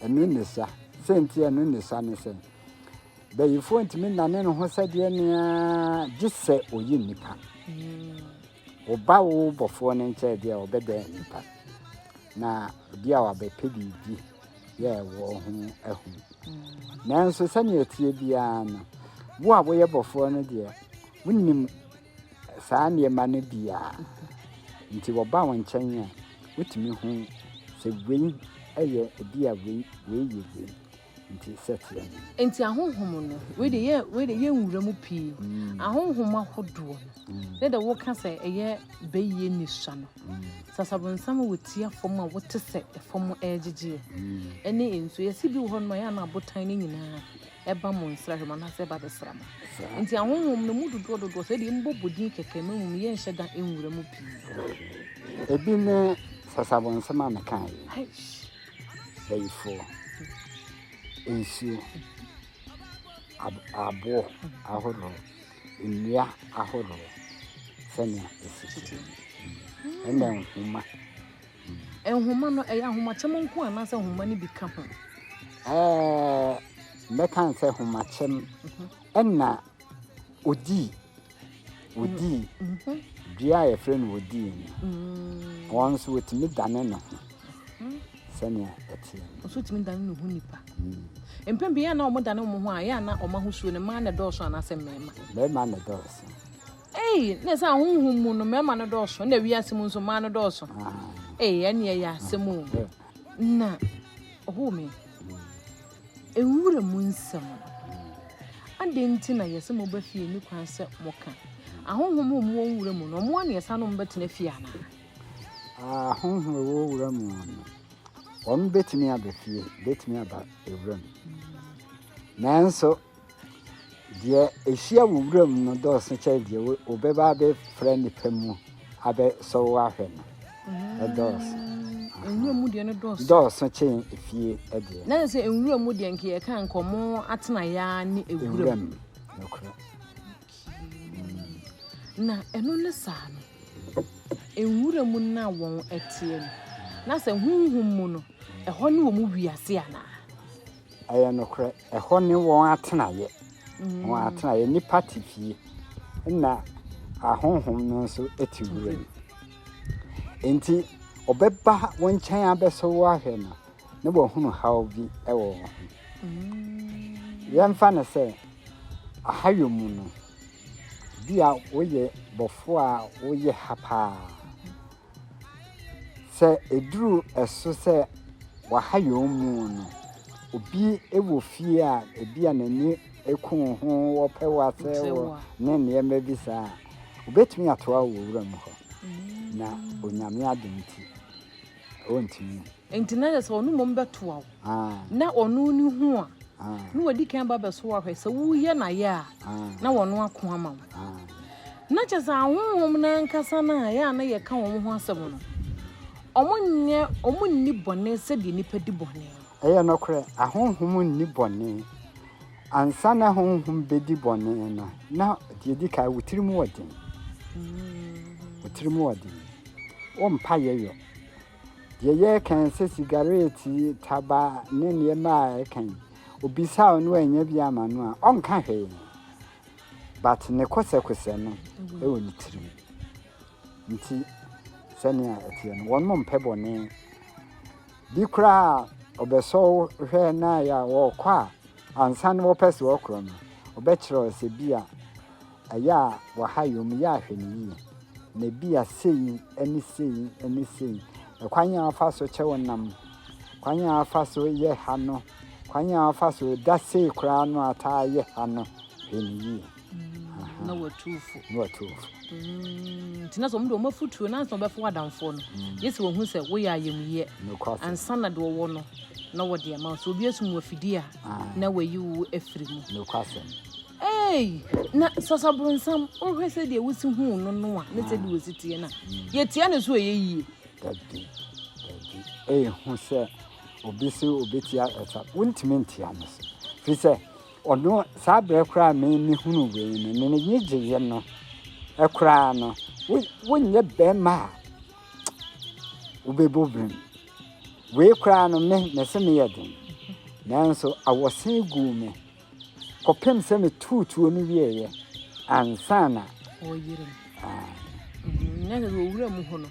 Speaker 3: Ɛno
Speaker 1: ne sa. Sɛ nti ɛno ne sa ne sɛ, bayifoɔ ntumi nane ne ho sɛdeɛ nea gye sɛ ɔyi nnipa. Ɔba hmm. wo bɔfoɔ no nkyɛn deɛ ɔbɛdɛn nnipa. Na obi a wabɛpɛ biribi yɛɛ wɔn ho ahu nanso sɛnea ɛteɛ biara no wo a woyɛ bɔfoɔ no deɛ wonim saa nneɛma no biara nti wɔba wo nkyɛn a wotumi hu sɛ wei yɛ ebi a wei wei yɛ wei nti sɛteɛ no nti ahonhom
Speaker 3: no wei de yɛ wei de yɛ nwura mu pii mm. ahonhom ahodoɔ no mm. ne de woka sɛ ɛyɛ bɛyie nisua no Sɛ asabonsam wɔ ti afam a wote sɛ fam regyegyeɛ ne nsuo. Yɛse bi wɔ hɔ nom a ɛyɛ a na abotan no nyinaa ɛba mo nsra hwɛ mu anaasɛ ɛba bɛsra mo. Nti ahonhom no mu dodoɔ dodoɔ sɛ deɛ mbɔ bodin kɛkɛ ma mmom yɛnhyɛ da nwura mu pii. Ebi
Speaker 1: ne sɛ asabonsam a meka yi. Bayifoɔ, nsuo, aboɔ ahodoɔ. nnua ahorow sɛnea esi teɛ no, ɛnna nhoma.
Speaker 3: Nhoma no, ɛyɛ ahomakyɛm nko anaasɛ nhoma no bi ka ho? Ɛɛ,
Speaker 1: mɛka sɛ ahomakyɛm ɛnna odii odii dua a yɛfrɛ no odii no, wɔn nso wɔtumi dane ne ho. sɛnea ɛteɛ no. Nso tumi dane ne ho
Speaker 3: nipa. Mpɛn pii yɛ na wɔn dane wɔn ho a, yɛ na wɔn ahosuo no mmaa na ɛdɔɔso anaasɛ mmarima. Mmarima na ɛdɔɔso.
Speaker 1: Ei, na
Speaker 3: ɛsɛ ahohom mu no mmarima no dɔɔso, na wiase mu nso mmaa no dɔɔso. Ah. Ei, ɛne ɛyɛ asɛm o. Eh. Na ɔhoo me. Nwura mu nsɛm no. Adɛn nti na yɛsɛ mobɛ fie ne kwan sɛ moka? Ahohom mu wɔn nwura mu no, wɔn a na yɛsa no mobɛtena fie anaa?
Speaker 1: Ahɔho a wɔwɔ wura mu no, wɔbɛtumi aba fie, wɔbɛtumi aba wura mu. Nanso, deɛ ɛhyia wɔ wura mu no dɔɔso kyɛn deɛ wɔbɛba abɛfra nnipa mu abɛsɔ wo ahwɛ no. Mm. Ɛdɔɔso. Nwura mu
Speaker 3: deɛ no dɔɔso. Dɔɔso kyɛn
Speaker 1: efie deɛ. Na sɛ nwura mu
Speaker 3: deɛ nka yɛka nkɔmɔ atenaeɛ ne ewura mu. Nokorɛ. Na ɛno ne saa no, nwura mu na wɔn teɛ no, na sɛ honhom mu no, ɛhɔ ne wɔn wiase anaa? Ɛyɛ
Speaker 1: nokorɛ, ɛhɔ ne wɔn atenaeɛ, mm. wɔn atenaeɛ, nipa te fie, na ahonhom no nso te wura mu. Nti, ɔbɛba wɔn nkyɛn abɛsɔ wo ahwɛ no, na wɔahunu haw bi wɔ wɔn ho. Yɛmfa no sɛ ahayɔ mu no, bi a woyɛ bɔfo a woyɛ ha paa. Sɛ eduru ɛso sɛ wahayɔ mu no, obi wɔ fie a ebi a n'ani ku ho wɔpɛ w'asɛ wɔ ne nneɛma bi saa a, obetumi atoa wɔ wuram hɔ na onyame adom ti Ɔrentumi. Enti na kyerɛ
Speaker 3: sɛ ɔno mmom bɛtoa wo. Na ɔno ne hu a, na wadi kan ba bɛso ahwɛ sɛ woyɛ n'ayɛ a, na wɔno ako ama wo. Na kyerɛ sɛ ahonhom no ankasa no a ɛyɛ a na yɛka wɔn ho asɛm no, wɔnyɛ, wɔn nni bɔne sɛdeɛ nnipa di bɔne. Ɛyɛ nokorɛ,
Speaker 1: ahonhom nni bɔne. Ansa na honhom bɛdi bɔne no, na deɛ ɛdi kan wo tirim wɔ den. Wo tirim wɔ den. Wompa yɛyɔ. Deɛ yɛreka sɛ sigareeti, taba ne nneɛma a ɛka yi, obisa a ɔno anya bi ama no a, ɔnka hwee. But ne kɔsɛkɔsɛ no ɛwɔ ne tirim. Nti sɛnea ɛteɛ no, wɔn mpɛ bɔne. bi koraa a ɔbɛsɔ wo hwɛ na ayɛ a wɔkɔ a ansa na wɔpɛ sɛ wɔkorɔ no, ɔbɛkyerɛ wo sɛ bi a ɛyɛ a wɔha yɛ mu yɛ ahwɛ no yie. Na bi a sei ne sei ne sei. Ɛkwan a afa so kyɛ wo nam, kwan a afa so yɛ ha no, kwan a afa so da sei koraa no ataa yɛ ha no, hwɛ no yie. na
Speaker 3: watu wo fo na watu wo fo mm, nti
Speaker 1: na sɛ ɔmo de ɔmo afotuo na ansa
Speaker 3: ɔbɛfo adamfoɔ no mm. yɛ sɛ wɔhu sɛ woyɛ ayamyɛ ansa na deɛ ɔwɔ no na wɔde ama so obi asum wafidie a ah. na wayi wo afiri mu
Speaker 1: ei
Speaker 3: na sasaboronsam wohwɛ sɛ deɛ wosi hu no no a ne sɛ deɛ ah. wɔsi teɛ no a mm. yɛtia no so ɛyɛ yie
Speaker 1: ɛyɛ hu sɛ obi sɛ obi tia ɛta wontumi ntia no so firi sɛ Ɔno, saa berɛ koraa a me mehunu wei no, ne n'ani gyeeɛ no koraa no, wo wonyɛ bɛrima a wobɛbɔ birim. Wei koraa no, me mese meyɛ den. Nanso awɔsen guu me kɔpem sɛ metuu tuo no wieeɛ ansa na ɔyere me.
Speaker 3: Ah, Mhm, Na sɛ sɛ owura mu hɔ no,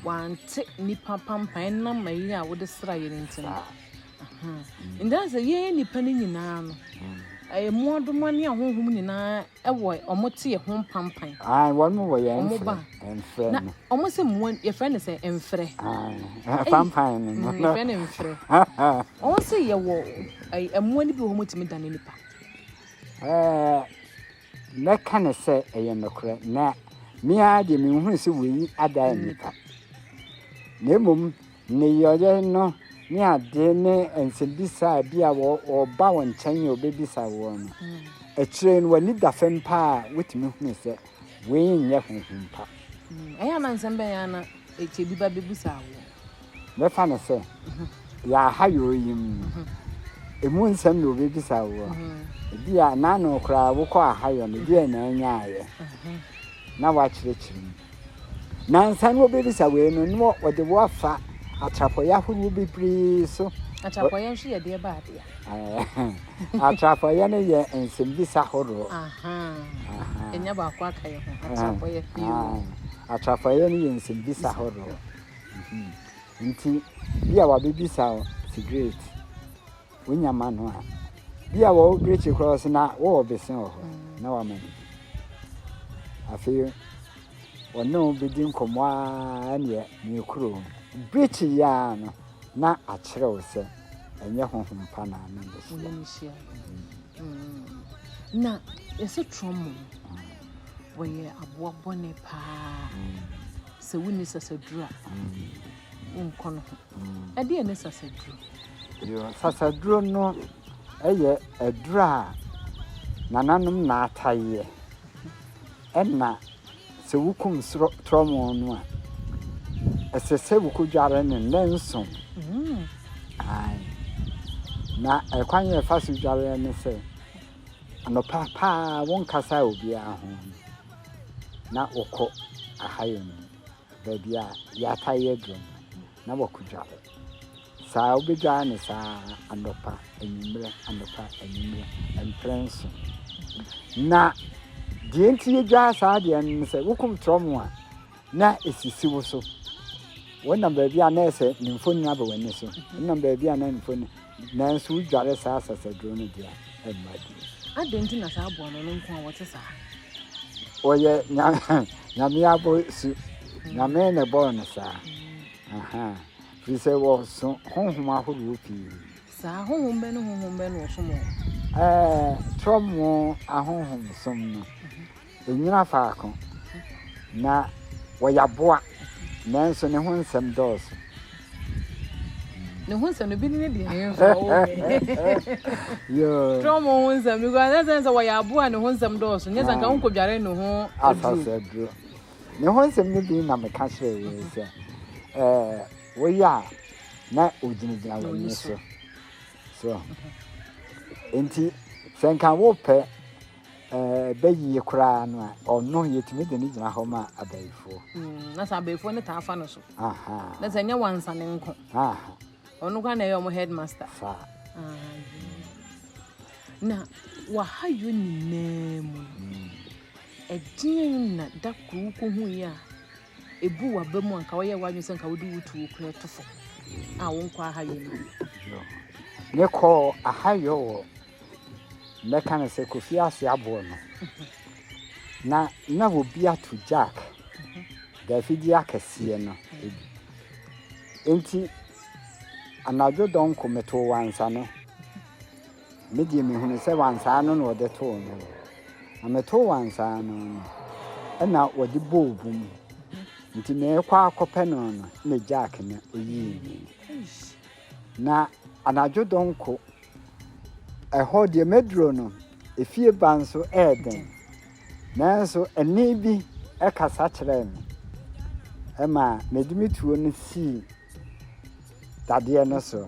Speaker 3: wante nnipa pampan nam mayiri a wode sraeɛ no nti no. saa. Nti sɛ yɛn nnipa no nyinaa no, ɛyɛ mmoadoma ne ahonhom nyinaa ɛwɔ ɔmo te yɛ ho mpampan. Ayi wɔn wɔ yɛn
Speaker 1: ɔmo ba mfrɛ na ɔmo sɛ
Speaker 3: mmoa yɛfrɛ no sɛ mfrɛ. Pampan
Speaker 1: no no. Yɛfrɛ no mfrɛ.
Speaker 3: Ɔmo sɛ yɛwɔ mmoa no bi wɔ hɔ tumi dane nipa. Ɛɛ
Speaker 1: mɛka ne sɛ ɛyɛ nokorɛ na mmea deɛ menhunu sɛ wei ada nipa na mmom Nneyɔeɛ no ne adeɛ ne nsɛmbisa bi a wɔba wɔn nkyɛn a wɔbɛbisa woɔ no, akyire no w'ani da fam paa a wotumi hunu sɛ wei nyɛ honhom pa. Ɛyɛ a na nsɛm bɛn ara na ɛkyɛ
Speaker 3: bi ba bɛbisa woɔ? Bɛfa no
Speaker 1: sɛ yɛ aha yɛ oyim. Ɛmu nsɛm na wɔbɛbisa woɔ. Ebi a naano koraa wokɔ ahayɔ no deɛ na anyaayɛ na woakyerɛkyerɛ mu. Na ansa na wɔbɛbisa wei no, na wɔde wo afa atrapɔeɛ ahoroɔ bebree so. Atrapɔeɛ nso yɛ
Speaker 3: deɛ ba adeɛ.
Speaker 1: atrapɔeɛ no yɛ nsɛmbisa horoɔ.
Speaker 3: Ɛnya baako aka yɛ ho atrapɔeɛ. Atrapɔeɛ
Speaker 1: no yɛ nsɛmbisa horoɔ. Mhm. Nti, bi a wɔabɛbisa wo sigaret. wonya ma no a, bi a wɔwɔ brekye koraa ɔsɛ na wɔwɔ bese wɔ hɔ na wama no bi. Afei ɔne wo bɛdi nkɔmmɔ a neɛ meekuro brekye yɛ a no na akyerɛ wo sɛ ɛnyɛ honhom pa na ne nhyia.
Speaker 3: Na yɛsɛ trɔmɔ wɔyɛ aboa bɔne paa sɛ wonni sasadura wonkɔ no ho. Ɛdeɛn ne sasaduro? Yoo,
Speaker 1: sasaduro no yɛ aduro a nananom na ataeɛ. Ɛna sɛ wokum torɔmo no a, ɛsɛ sɛ wokɔdware no nnanson. Mm. Ae. Na ɛkwan yɛ ɛfa so dwareɛ ne sɛ, anɔpa paa wonkasa obiara ho na wokɔ ahayɛ mu. baabi a yɛataa yɛ aduro no na wɔakɔdware saa wobɛdware no saa anɔpa anwummerɛ anɔpa anwummerɛ mprɛ nso na deɛ nti yɛdware saa deɛ no sɛ wokom torɔ mu a na ɛsisi wo so wonam baabi a na ɛsɛ ne mfoni aba w'ani so wonam baabi a na mfoni Nanso wodware saa sɛsɛdwow no de a, ɛmma bi. Adɛn nti na saa
Speaker 3: aboa no, ɔno nko ara ɔte saa?
Speaker 1: Ɔyɛ Nyame abɔsu. Nyame na ɛbɔɔ no saa. Firi sɛ wɔso honhom ahorow pii. Saa honhom
Speaker 3: bɛn ne honhom bɛn na wɔsom wɔn? Ɛɛ, trɔmo
Speaker 1: ahonhom som no. Ɛnnyina faako, na ɔyɛ aboa, nanso ne ho nsɛm dɔɔso. Ne ho nsɛm
Speaker 3: no
Speaker 1: bi ne ne deɛ ne nso trɔm ho nsɛm no
Speaker 3: kura ne sɛ sɛ wɔyɛ aboa ne ho nsɛm dɔɔso nyɛ sɛ nka ho nkɔdware ne ho asase aduro
Speaker 1: ne ho nsɛm no bi na meka kyerɛ wei sɛ woyɛ a na ɔgyinagyina w'ani so so nti sɛ nka wopɛ ɛbɛ yie koraa no a ɔno yɛtumi de ne gyina hɔ ma abayifoɔ mm, na sɛ abayifoɔ
Speaker 3: no taa fa no so na sɛ nyɛ
Speaker 1: wansa ne
Speaker 3: nko
Speaker 1: ɔno koraa na ɛyɛ
Speaker 3: ɔmo headmaster fa na waha yɔ nyinaa mu mm. ɛdeɛn na da koro wokɔhu yi a ɛbu waba mu anka woyɛ woadwene sɛ nka wode wotuo kora to fo a wonkɔ aha yɔ no
Speaker 1: mekɔɔ aha yɔ wɔ Mɛka no sɛ Kofi ase aboɔ no na na obi ato jack dafidie akɛseɛ no bi. Enti anadwo dɔnko metoo wansane. Me deɛ mehunu sɛ wansaa no na ɔde too no. Na metoo wansaa no no ɛna ɔde bɔɔ bu mu. Nti meekɔ akɔpɛ no no na jack no ɔyii no. Na anadwo dɔnko, ɛhɔ deɛ maduro no, efie ba nso ɛyɛ den. Nanso ɛnne bi ɛkasa kyerɛɛ me, ɛma mede me tuo no sii dadeɛ no so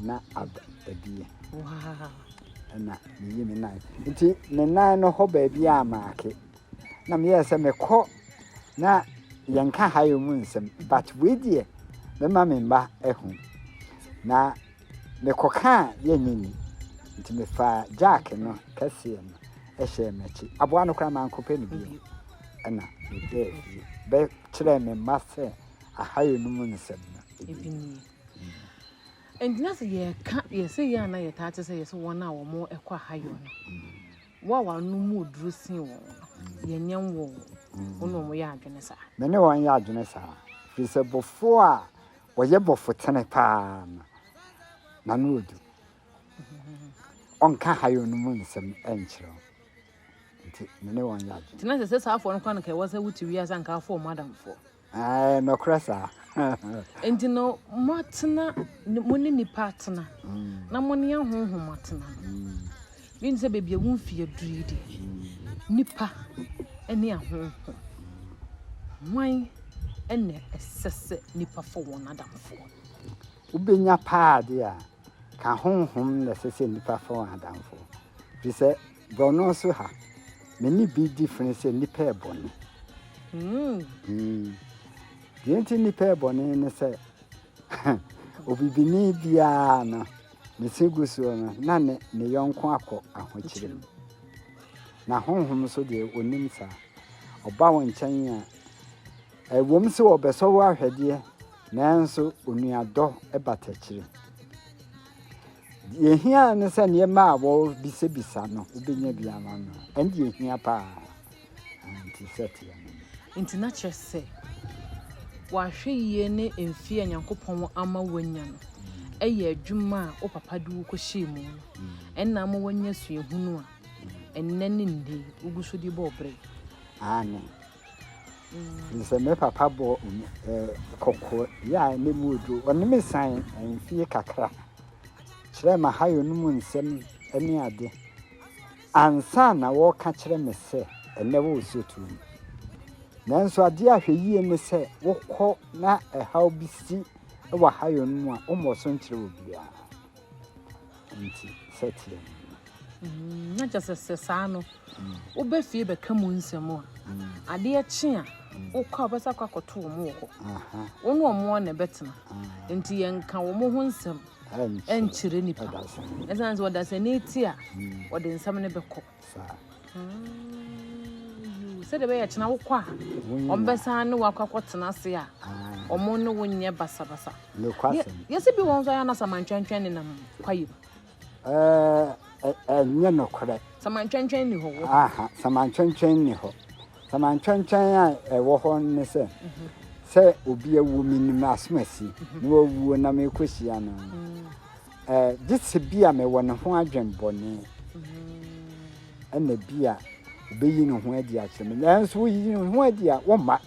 Speaker 1: na ada adie.
Speaker 3: Ɛna
Speaker 1: meyi me nan. Nti ne nan no hɔ baabi a maake. na me yɛ sɛ me kɔ na yɛn ka ha yɛ mu nsɛm but wei deɛ me ma me mba ɛho na me kɔ kaa yɛ nyɛ ni nti me fa jack no kɛseɛ no ɛhyɛ m'akyi aboa no kora ma nko pɛ ne bi ɛna me bɛɛ fie bɛ kyerɛ me mba sɛ aha yɛ no mu nsɛm no ebi nie
Speaker 3: ɛntina sɛ yɛka yɛsɛ yɛ ana yɛtaa te sɛ yɛsɛ wɔn a wɔn ɛkɔ aha yɛ no Wo a w'ano mu duru sen wɔn no, yɛnyɛ nwo wo. Wo ne wɔn yɛ adwene saa. Me ne wɔn yɛ adwene
Speaker 1: saa. Ɛfiri sɛ bɔfoɔ a ɔyɛ bɔfotene paa no, n'ano yɛ duru. Ɔnka hayo no mu nsɛm nkyerɛ wo. Nti me ne wɔn yɛ adwene. Nti na ɛsɛ sɛ saa afoɔ no kora anka
Speaker 3: ɛwɔ sɛ wote wiase anka afoɔ wɔn adamfoɔ. Ae, nɔkorɛ
Speaker 1: saa. Enti
Speaker 3: no moatena, mo ne nnipa atena, na mo ne ahonhom atena no, menim sɛ baabi a wo mfeɛ aduru yi deɛ, nnipa ne ahonhom, hwan na ɛsɛ sɛ nnipa fa wɔn adamfoɔ? Wobɛnya
Speaker 1: paa deɛ a, ka honhom na ɛsɛ sɛ nnipa fa wɔn adamfoɔ, firi sɛ. Borɔno so ha, me ne bi di fene sɛ nnipa yɛ bɔne. Deɛ nti nnipa yɛ bɔne ne sɛ, obibini biara no, ne se gu soɔ no, na ne ne yɔnko akɔ ahokyere mu. Na honhom so deɛ ɔnim saa. Ɔba wo nkyɛn a, ɛwom sɛ ɔbɛsɔ wo ahwɛdeɛ, nanso onuadɔ bata akyire. Deɛ ɛhia ne sɛ nneɛma a wɔbisabisa no wobɛnya bi ama no ɛne deɛ ɛhia paa nti sɛ teɛ no nti na kyerɛ
Speaker 3: sɛ wahwɛ yie ne mfeɛ a nyankopɔn ama wanya no ɛyɛ adwuma a wo papa de wo kɔhyɛɛ mu no ɛna ama wanya suahunu a ɛnnɛ ne nne wogu so de bɔ ɔbrɛ ane
Speaker 1: Nsɛ me papa bɔ kɔkɔ yɛ a ne mu odo. Ɔne me san mfie kakra. Kyerɛ ma ha yɛ no mu nsɛm ne ade. Ansa na wɔka kyerɛ me sɛ ɛnɛ wɔ osuotuo mu. Nanso adeɛ a hwɛ yie ne sɛ wokɔ na ɛhaw bi si wɔ ha yɛ no mu a wommɔ so nkyerɛ obiara. Nti sɛ teɛ no.
Speaker 3: Na kyerɛ sɛ saa no, woba fie bɛka mu nsɛm a, adeɛ kye a, wokɔ a wobɛsa kɔ akɔto wɔn wɔ hɔ. Wo ne wɔn ara na ɛbɛtena. Nti yɛnka wɔn ho nsɛm nkyerɛ nipa. Ɛsiane sɛ ɔdasani te a, ɔde nsɛm no bɛkɔ. Sɛdeɛ ɛbɛyɛ kyena wokɔ a, wɔbɛsan ne wakɔ akɔtena ase a, wɔn ne wo nyɛ basabasa.
Speaker 1: Yɛsɛ bi wɔn nso ayɛ
Speaker 3: anasa mantwɛntwɛn nenam kwaeɛ mu. Ɛɛ,
Speaker 1: ɛnyɛ nokorɛ. Samantwɛntwɛn
Speaker 3: nni hɔ. Aha, samantwɛntwɛn
Speaker 1: nni hɔ. Samantwɛntwɛn a ɛwɔ hɔ ne sɛ, sɛ obi awuo, menim asomasi na wawuo na merekɔhyia no. Ɛɛ, gye sɛ bi a mewɔ ne ho adwenbɔne, ɛna bi a ɔbɛyi ne ho adi akyerɛ me. Nanso woyi ne ho adi a, womma.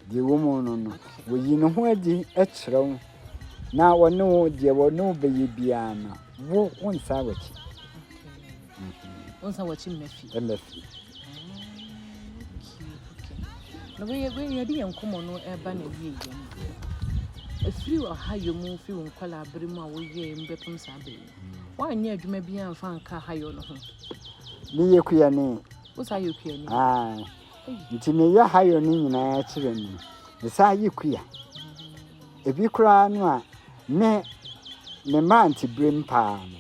Speaker 1: Deɛ ɛwɔ mu no no, wɔyi ne ho adi kyerɛ wo na ɔne wo deɛ ɔne wo bɛyɛ biara no wo wo nsa wɔkyi wo
Speaker 3: nsa wɔkyi mmafi mmafi na wɔyɛ wɔyɛ yɛde yɛn nkɔmɔ no ɛba na wie yɛn ɛfiri ɔha yɛ mu firi wo nkɔla abere mu a woyɛ mu bɛpem saa bere mu woanyɛ adwuma biara mfa nka ha yɛ no ho meyɛ
Speaker 1: kuani wosa yɛ kuani
Speaker 3: Nti
Speaker 1: me yɛ hayo no nyinaa kyerɛ no me saa yɛ kuya ebi koraa no a me me mmerante berem paa no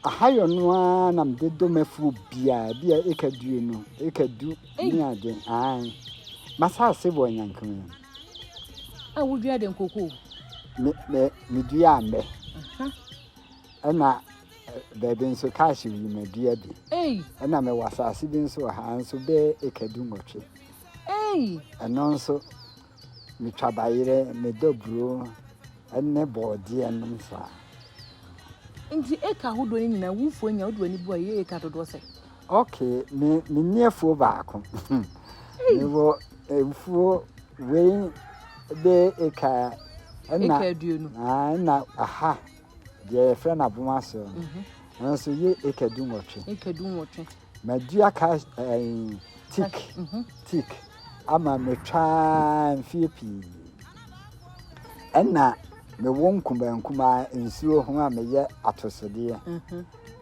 Speaker 1: ahayɔ no ara na mede dɔ mafuo biara bi a eka due no eka du ne ade an masaase wɔ nyankewa
Speaker 3: a wodua de nkoko me me
Speaker 1: medua mbɛ ɛna Baabi nso kaahye wi madua bi. Ɛna mewɔ asase bi nso wɔ ha nso bɛyɛ eka du nwɔtwe. Ɛno nso metwa bayerɛ medɔ buro ne bɔɔdeɛ nom saa.
Speaker 3: Nti eka ahodoɔ no nyinaa wufoɔ nya wode w'ani bu a ɛyɛ eka dodoɔ sɛ? Okay, me
Speaker 1: me ni afuo baako. Mewɔ afuo wei bɛyɛ eka ɛna
Speaker 3: ɛna aha
Speaker 1: deɛ yɛfrɛ no aboma ase no ɛno nso yɛ eka du nwɔtwe eka du nwɔtwe madua ka ɛɛ tik tik ama metwaa mfie pii ɛna mewɔ nkumaa nkumaa nsuo ho a meyɛ atosodeɛ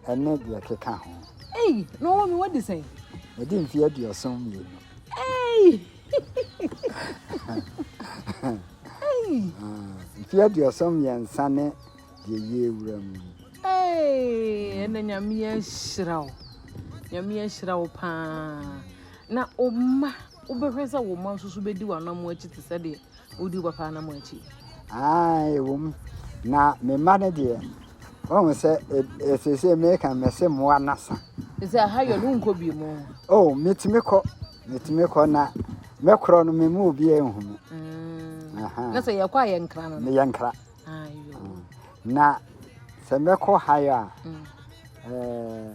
Speaker 1: ɛne deɛ keka ho. ɛyi na ɔwɔ mi
Speaker 3: wɔ de sɛn. mede mfie
Speaker 1: aduɔson mmienu. ɛyi. mfeɛ aduasa mmiɛnsa ne deɛ yie wura mu
Speaker 3: ɛna nyame ahyira wo nyame ahyira wo paa na ɔma wobɛhwɛ sɛ wo ma nso so bɛdi w'anamo akyi te sɛ deɛ wodi wo papa anamo akyi ɛwɔ
Speaker 1: mu na me mma no deɛ ɔhu sɛ ɛsesei meka mɛse mmoa nasa sɛ aha yɛ
Speaker 3: no wonkɔ bi mu o metumi kɔ
Speaker 1: Metumi kɔ na mɛkorɔ no memu obiara nhu me. Mm. Na sɛ
Speaker 3: yɛkɔ a yɛ nkra no? Meyɛ nkra.
Speaker 1: Mm.
Speaker 3: Na
Speaker 1: sɛ mɛkɔ hayo a mm. eh,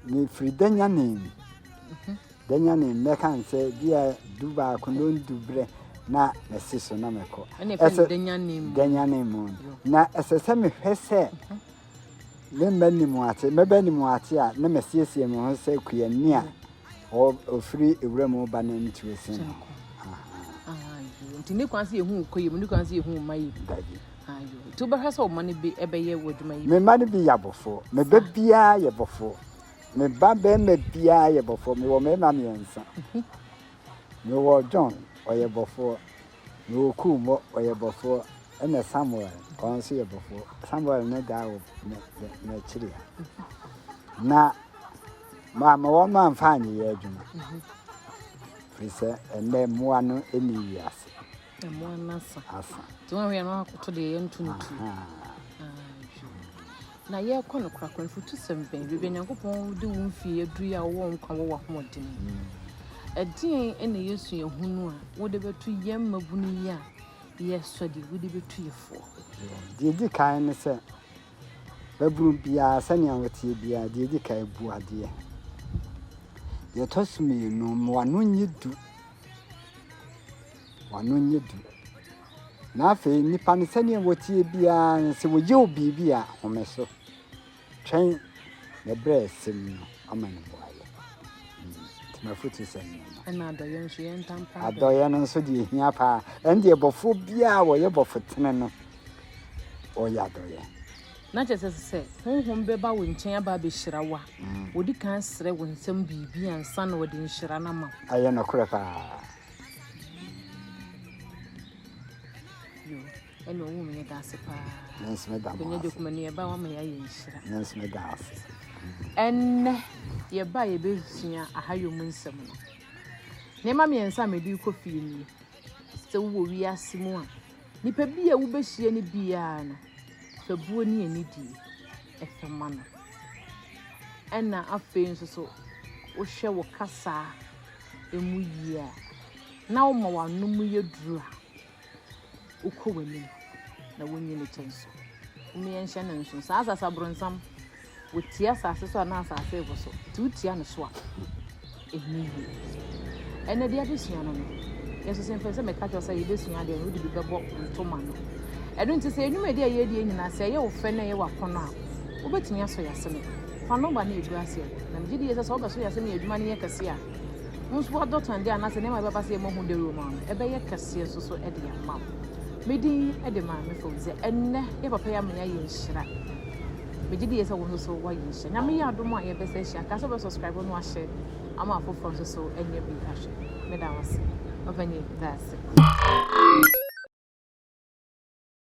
Speaker 1: mefiri danya ne mu. Mhm. Danya ne mu mɛka n sɛ bia du baako na ɔndu berɛ na mɛsi so na mɛkɔ. Ɛsɛ
Speaker 3: danya ne mu. Na
Speaker 1: ɛsɛ sɛ mehwɛ sɛ mhm. me mma nim ate, mmɛbɛ nim ate a, na masiesie me ho sɛ kuani a ɔfiri ewura mu ba na ntu esi no. Nti
Speaker 3: ne kwan sɛ yɛhu kɔ yie mu, ne kwan sɛ yɛhu mma yie mu. Dabi. Ayo. Nti wobɛhwɛ sɛ ɔma no bi ɛbɛyɛ wɔ adwuma yi. Me mma no bi yɛ abɔfoɔ,
Speaker 1: me ba biara yɛ bɔfoɔ, me ba bɛrima biara yɛ bɔfoɔ, mewɔ mmarima mmiɛnsa. Mhm. Mewɔ John, ɔyɛ bɔfoɔ. Mewɔ kuu bɔ ɔyɛ bɔfoɔ ɛna Samuel ɔno nso yɛ bɔfoɔ Samuel ne daa wɔ n'akyiri ha na maama wɔn ma nfa anyeyɛ adwuma firi sɛ ɛnɛ mmoa no ɛni yi ase mmoa
Speaker 3: no asa asa nti wɔn ahwɛ
Speaker 1: no akoto
Speaker 3: deɛ yɛnto no tu Na yɛrekɔ no korakora, mfotosɛm bɛn? Baabi a Nyankopɔn de wo mfie aduru yi a wowɔ nkwa wɔ w'ahoɔden mu. Ɛdeɛn na yɛ suahunu a wode bɛto yɛn mmabunu yi a yɛresɔ deɛ wode bɛtu yɛ foɔ? Deɛ ɛdi
Speaker 1: kan ne sɛ, babunu biara sɛnea ɔteɛ biara, deɛ ɛdi kan bu adeɛ. Deɛ ɛtɔ so mmienu, ma w'ano nyɛ du. W'ano nyɛ du. Na afei nnipa no sɛdeɛ wɔteɛ biara no sɛ wɔyɛ wo biribi a home so. Twɛn na berɛ a ɛsɛ mu no ama no boayɛ. Nti mafotu sɛ no. Ɛna adɔyɛ nso yɛ
Speaker 3: ntampa. Adɔyɛ no nso deɛ
Speaker 1: ɛhia paa. Ɛn deɛ bɔfoɔ biara wɔyɛ bɔfo tene no ɔyɛ adɔyɛ. Na kyerɛ sɛ
Speaker 3: sɛ honhom bɛba wo nkyɛn aba abɛhyira wo a, wɔdi mm. kan srɛ wo nsɛm biribi ansa na wɔde nhyira no ama wo. Ɛyɛ nokorɛ paa. ɛna ɔwɔ mu yɛda ase paa bɛnya
Speaker 1: dwakuma no yɛba wama
Speaker 3: yɛayɛ nhyira
Speaker 1: ɛnnɛ
Speaker 3: yɛba yɛbɛsua ahayɔ mu nsɛm no nneɛma mmiɛnsa a mede kɔ fie nie sɛ wowɔ wiase mu a nipa bi a wobɛhyia no biara no fa buo ne anidie ɛfɛ ma no. Ɛna afei nso so wohwɛ wo kasaa ɛmu yie a, na woma w'ano mu yɛ duru a, wokɔ w'anim na wonyi ne kyɛ nso. Wone yɛnhyɛ no nso. Saa asase abronsam, wotia asase so a na asase rebo so. Nti wotia no so a. Ɛnyɛ yie. Ɛnna deɛ adesua no no, yɛnso sɛ mfɛn sɛ mɛka kyerɛ sɛ yɛbɛsua adeɛ no, wode bi bɛbɔ ntoma no. Ɛno nti sɛ nnwumadi a yɛredie nyinaa sɛ ɛyɛ wo fɛ na ɛyɛ w'akɔnɔ a, wobɛtumi asɔ yɛasene. Fa nɔma no ɛgu aseɛ hɔ. Na megye die sɛ sɛ wobɛsɔ yɛasene yɛ adwuma no yɛ kɛseɛ a, wo nso woadɔ tɔndeɛ anaasɛ nneɛma a ɛbɛba sɛ yɛmmɔ ho dawuro ma wo no, ɛbɛyɛ kɛseɛ nso so de ama wo. Me din de Maame Fawzia. Ɛnnɛ, yɛn papa yi ama yɛayɛ nhyira. Megye die sɛ wo nso woayɛ ahyia. Nyame yɛ adom a yɛbɛsa ahyia. Ka sɛ wobɛ subscribe no ahyɛ ama afoforɔ nso so anya bi ahwɛ. Meda wo ase. Ɔpanyin, da ase.